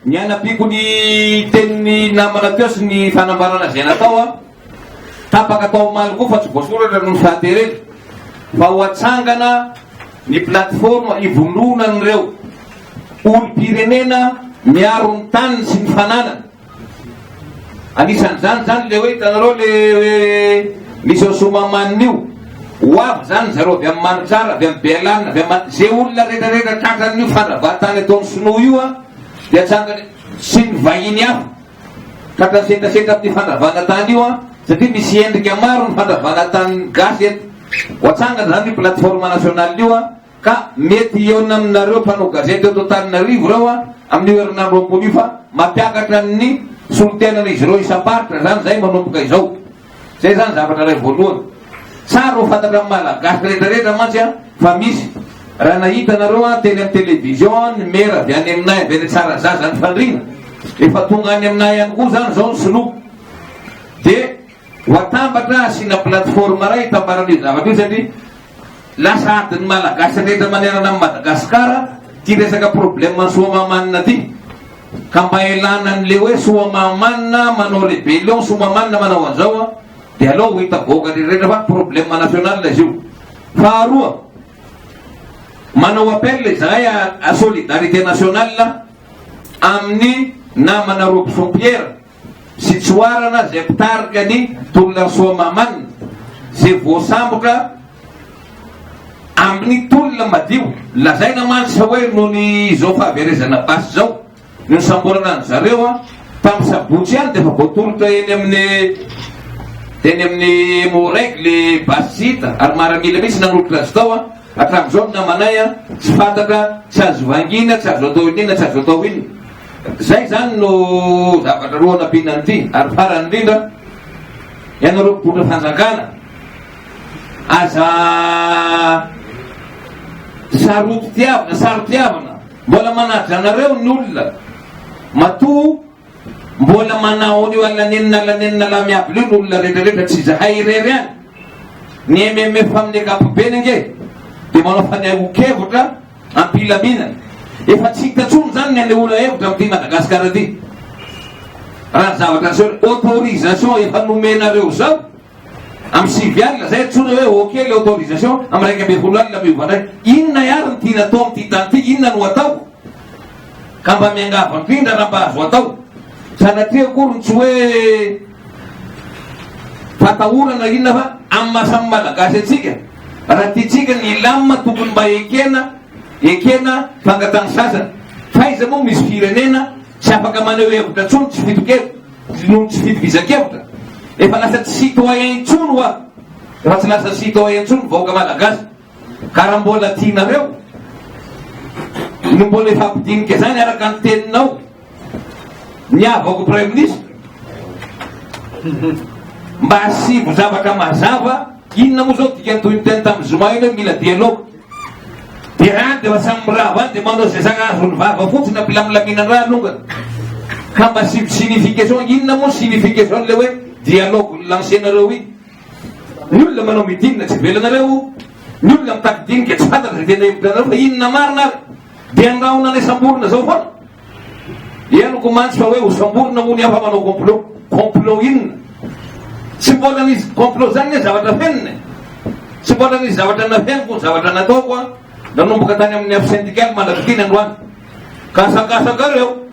Ny anapiko ny tenin'ny namana teo sy ny fanambarana izay natao a. Tapaka tao omaly koa fa tsy voasoratra noho ny fahaterena fa ho atsangana ny plateforme ivononan'ireo olom-pirenena miaro ny taniny sy ny fananany. Anisan'izany zany le hoe hitanareo le hoe misy ao Soamamanina io. Ho avy zany zareo avy amin'ny Manitsara, avy amin'ny Bealana, avy amin'ny ze olona rehetrarehetra tratran'io fandravahan-tany ataon'ny Sinoa io a dia tsangany sy ny vahiny hafa tratran'ny setrasetra amin'ny fandravana tany io a satria misy endrika maro ny fandravana tanin'ny gasy eto. Ho atsangany zany io plateforme nationale io a. Ka mety hihaona aminareo mpanao gazety eto Antananarivo ireo an, amin'io herinandro ambony io fa mampiakatra ny solontenan'izy ireo isam-paritra izany izay manomboka izao. Izay izany zavatra iray voalohany. Tsara ho fantatran'ny Malagasy rehetrarehetra mantsy an, fa misy. Raha nahita nareo an, teny amin'ny television an, ny mera avy any aminay avy any Tsarazaza nifandrina. Efa tonga any aminay ihany koa izany izao ny sinoa. Dia. Ho atambatra asiana plateforme iray hitambarana io zavatra io satria lasa adin'ny Malagasy rehetra manerana an'i Madagasikara ity resaka problème an'i Soamahamanina ity. Ka mba ilana an'ilay hoe Soamahamanina manao rébellion, Soamahamanina manao an'izao an, dia aleo ho hita vahoaka rehetra fa problème national izy io. Faharoa, manao appel izahay à solidarité nationale amin'ny namana Robson Pierre. sy tsoarana izay mpitarika ny tolona Soamaman izay voasambotra amin'ny tolona madio. Lazaina mantsy fa hoe noho ny izao fahaverezana basy izao no nisamborana an-dry zareo an, tamin'ny sabotsy ihany dia efa voatolotra eny amin'ny teny amin'ny Emmo-Reg ilay basy tsy hita ary maramila mihitsy nanolotra azy tao an, hatramin'izao ny namanay an, tsy fantatra, tsy azo vangiana, tsy azo atao inona inona, tsy azo atao inona. Izay izany no zavatra roa nampiana an'ity. Ary farany indrindra, ianareo mpipoitra fanjakana, aza sarotiavina, sarotiavina, mbola manaja anareo ny olona, matoa mbola manao an'io alanenina alanenina laha miavy leo ny olona rehetrarehetra tsy zahay irery any, ny MMF amin'ny ankapobeny ange dia manao fanehon-kevitra am-pilaminana. Efa tsy hita intsony izany ny hanehoana hevitra amin'ity Madagasikara ity. Raha ny zavatra niseho hoe autorisation efa nomenareo izao amin'ny sivy alina izay antsoina hoe ok le autorisation amin'ny iraika ambin'ny folo alina miova indray. Inona ihany ny tiana atao amin'ity tany ity? Inona no atao? Ka mba miangavy indrindra raha mba azo atao. Sanatria akory ny tsy hoe Fatahorana inona fa amin'ny maha samy Malagasy antsika, raha tiantsika ny hilamina tokony mba ekena ekena fangatahana sasany. F'aiza moa misy firenena tsy afaka maneho hevitra intsony, tsy fidokevitra, noho ny tsy fitovizan-kevitra. Efa lasa tsy citoyen intsony hoa, efa tsy lasa citoyen intsony ny vahoaka Malagasy. Ka raha mbola tianareo no mbola hifampidinika izany araka ny teninao ny havako praiminisitra mba asivo zavatra mazava inona moa zao dikany toy ny teny tamin'ny zoma iny hoe mila dialogue dia rany dia samy mirava any dia manao izay zaka azo ny vava fotsiny ampilamilamiana raha alongany ka mba asivo signification inona moa signification le hoe dialogue ny lancenareo iny Ny olona manao meeting tsy velanareo, ny olona mitady dinika tsy fantatra izay tena hevitrareo fa inona marina ary. Dia andrahona ilay samborina zao foana. Henoko mantsy fa hoe ho samborina moa ny hafa manao complot. Complot inona? Tsy mbola nisy complot zany ny zavatra fenina. E. Tsy mbola nisy zavatra nafeniko ny zavatra nataoko a. Nanomboka tany amin'ny afo syndicale mandrapitina androany. Ka asakasaka reo.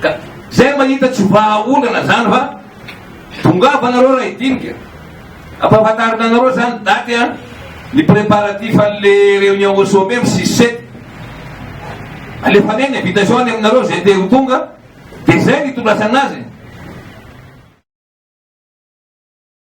Ka zay mahita tsy vahaolana zany fa tongava anareo raha hidinika. Ampahafantarina anareo zany daty an ny préparatif an'le réunion au sommet am six sept. Alefanay ny invitation any aminareo zay te ho tonga de zay ny itondrasana azy.